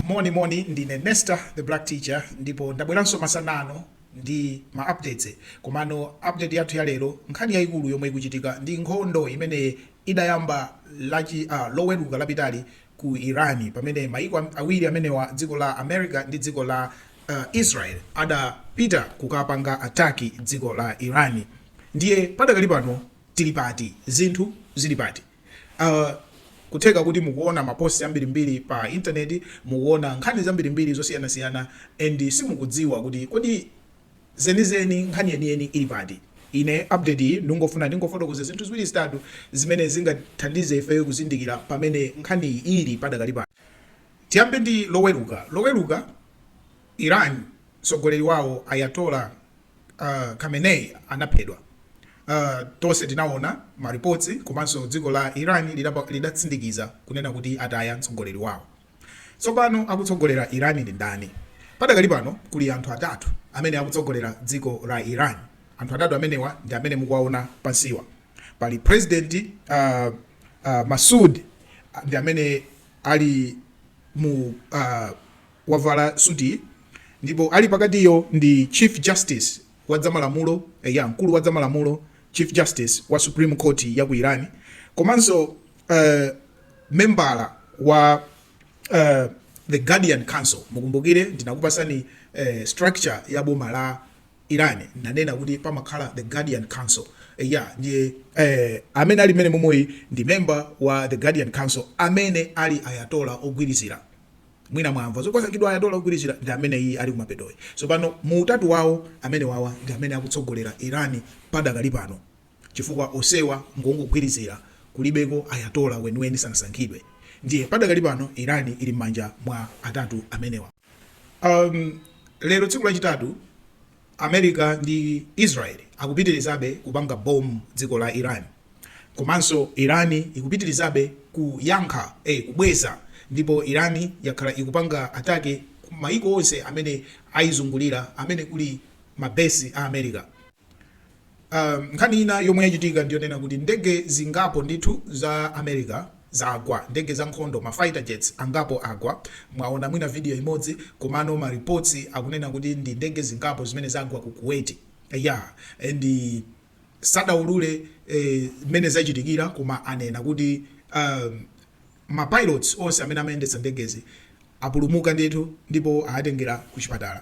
moni moni ndine nesta the black teacher ndipo ndabweranso masana ano ndi ma updates komano update yathu ya lero nkhani yayikulu yomwe ikuchitika ndi nkhondo imene idayamba lachi uh, loweruka lapitali ku Iran pamene mayiko awiri amenewa dziko la America ndi dziko la Israel adapita kukapanga attack dziko la Iran ndiye padakali pano tili pati zinthu zili pati uh, kutheka kuti mukuona maposti ambirimbiri pa intaneti mukuona nkhani zambirimbiri zosiyanasiyana and simukudziwa kuti kodi zenizeni, nkhani yeniyeni ili pati? Ine update iyi ndingofuna ndingofotokoze zinthu ziwiri zitatu zimene zingathandize ifeyo kuzindikira pamene nkhaniyi ili padakali pano. Tiyambe ndi Loweruka. Loweruka, Iran mtsogoleri wawo Ayatollah uh, Khamenei anaphedwa. Uh, tonse tinaona ma reports komanso dziko la Iran lidatsindikiza kunena kuti ataya mtsogoleri wawo. Tsopano akutsogolera Iran ndi ndani? Padakali pano kuli anthu atatu amene akutsogolera dziko la Iran. Anthu atatu amenewa ndi amene mukuwaona pansiwa. Pali President uh, uh, Masoud ndi amene ali mu uh, wavala suti ndipo ali pakatiyo ndi Chief Justice wa zamalamulo eh, ya mkulu wa zamalamulo Chief Justice wa Supreme Court ya ku Iran komanso uh, membala wa uh, the guardian council mukumbukire ndinakupasani uh, structure ya boma la iran nanena kuti pamakhala the guardian council eh, ya ndiye eh, amene ali mmene momweyi ndi member wa the guardian council amene ali ayatola ogwirizira mwina mwamva zoti wasankhidwa ayatola ogwirizira ndi amene iyi ali kumapetoyi so pano mu utatu wawo amenewawa ndi amene akutsogolera iran padakali pano chifukwa osewa ngongogwirizira kulibeko Ayatollah weniweni sanasankhidwe ndiye padakali pano Iran ili mmanja mwa atatu amenewa um, lero tsiku lachitatu America ndi Israel akupitirizabe kupanga bomu dziko la Iran komanso Iran ikupitirizabe kuyankha eh, kubweza ndipo Iran yakhala ikupanga attack ku maiko onse amene aizungulira amene kuli mabesi a America a Nkhani ina yomwe yachitika ndi yonena kuti ndege zingapo ndithu za America zagwa. Ndege za nkhondo, ma fighter jets, angapo agwa. Mwaona mwina video imodzi komano ma reports akunena kuti ndi ndege zingapo zimene zagwa ku Kuwait. Eya and sadaulule mmene zachitikira koma anena kuti a ma pilots onse amene amayendetsa ndegezi apulumuka ndithu ndipo aatengera ku chipatala.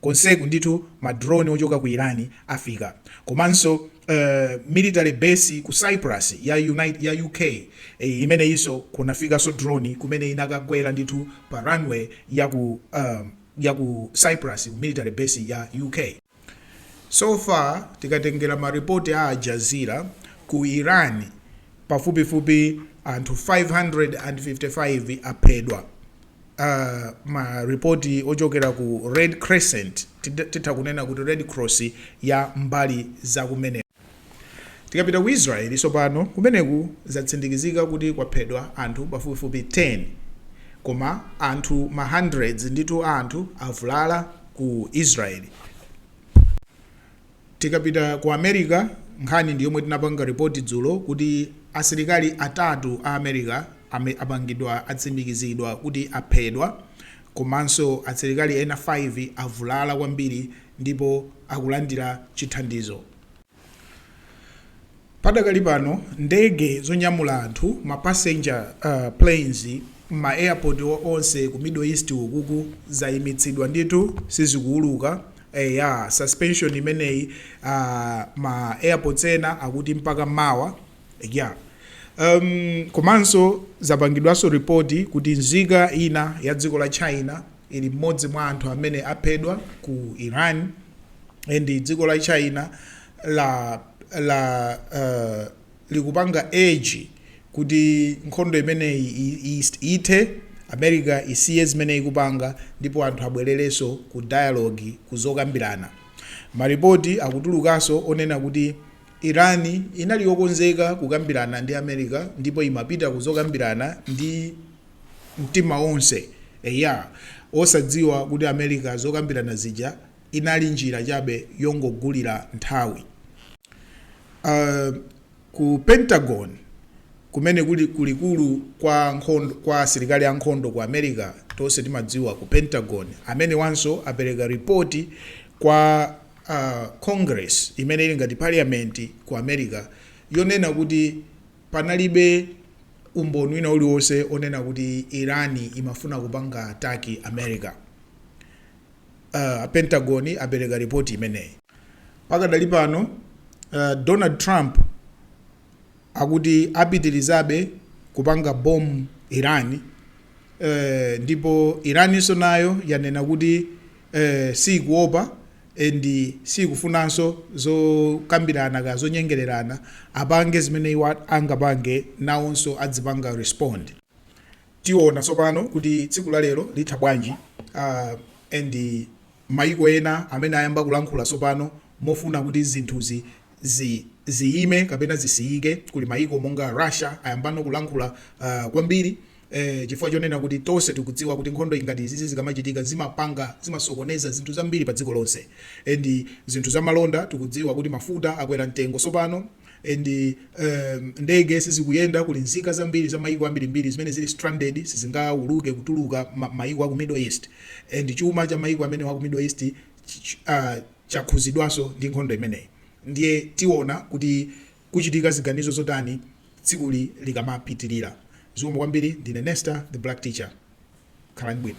konseku ndithu ma drone ochoka ku Iran afika komanso uh military base ku Cyprus ya unite ya UK eh, imeneyinso kunafikaso drone kumene inakagwera ndithu pa runway ya ku uh, ya ku Cyprus ku military base ya UK so far tikatengera ma report a Al Jazeera ku Iran pafupifupi anthu 555 aphedwa a Ma report ochokera ku Red Crescent, titha kunena kuti Red Cross ya mbali za kumeneko. Tikapita ku Israel tsopano, kumeneku zatsimikizika kuti kwaphedwa anthu pafupifupi 10. Koma anthu ma hundreds ndithu a anthu avulala ku Israel. Tikapita ku America, nkhani ndi yomwe tinapanga report dzulo kuti asilikali atatu a America ame apangidwa atsimikizidwa kuti aphedwa komanso asilikali ena 5 avulala kwambiri ndipo akulandira chithandizo. Padakali pano ndege zonyamula anthu, ma passenger planes, mma airport onse ku Middle East ukuku zayimitsidwa ndithu sizikuwuluka, eya suspension imeneyi ma airports ena akuti mpaka mawa ya um komanso zapangidwanso report kuti nzika ina ya dziko la China ili mmodzi mwa anthu amene aphedwa ku Iran and dziko la China la la uh, likupanga urge kuti nkhondo imeneyi ithe America isiye zimene ikupanga ndipo anthu abwererenso ku dialogue kuzokambirana maripoti akutulukanso onena kuti Iran inali yokonzeka kukambirana ndi America ndipo imapita kuzokambirana ndi mtima wonse eya osadziwa kuti America zokambirana zija inali njira chabe yongogulira nthawi. Ku Pentagon, kumene kuli kulikulu kwa nkhondo, kwa asilikali ankhondo ku America, tonse timadziwa ku Pentagon, amenewanso apereka ripoti kwa uh, Congress imene ili ngati parliament ku America yonena kuti panalibe umboni wina uliwonse onena kuti Iran imafuna kupanga attack America. A Pentagon apereka ripoti imeneyi. Pakadali pano Donald Trump akuti apitirizabe kupanga bomb Iran ndipo Iran nso nayo yanena kuti siyikuopa and siyikufunanso zokambirana kaya zonyengererana apange zimene iwo angapange nawonso adzipanga respond. Tiona tsopano kuti tsiku la lero litha bwanji and maiko ena amene ayamba kulankhula tsopano mofuna kuti zinthuzi ziyime kapena zisiyike, kuli maiko monga Russia ayambano kulankhula kwambiri chifukwa chonena kuti tonse tikudziwa kuti nkhondo ngati izizi zikamachitika zimapanga, zimasokoneza zinthu zambiri pa dziko lonse and zinthu za malonda tikudziwa kuti mafuta akwera mtengo tsopano. and um, ndege sizikuyenda kuli nzika zambiri za mayiko ambirimbiri zimene zili stranded sizingauluke kutuluka ma- mayiko aku middle east and chuma cha mayiko amene aku middle east ch- ch- ah, chakhuzidwanso ndi nkhondo imeneyi ndiye tiona kuti kuchitika ziganizo zotani tsikuli likamapitirira zikomo kwambiri ndine nesta the black teacher khalani bwino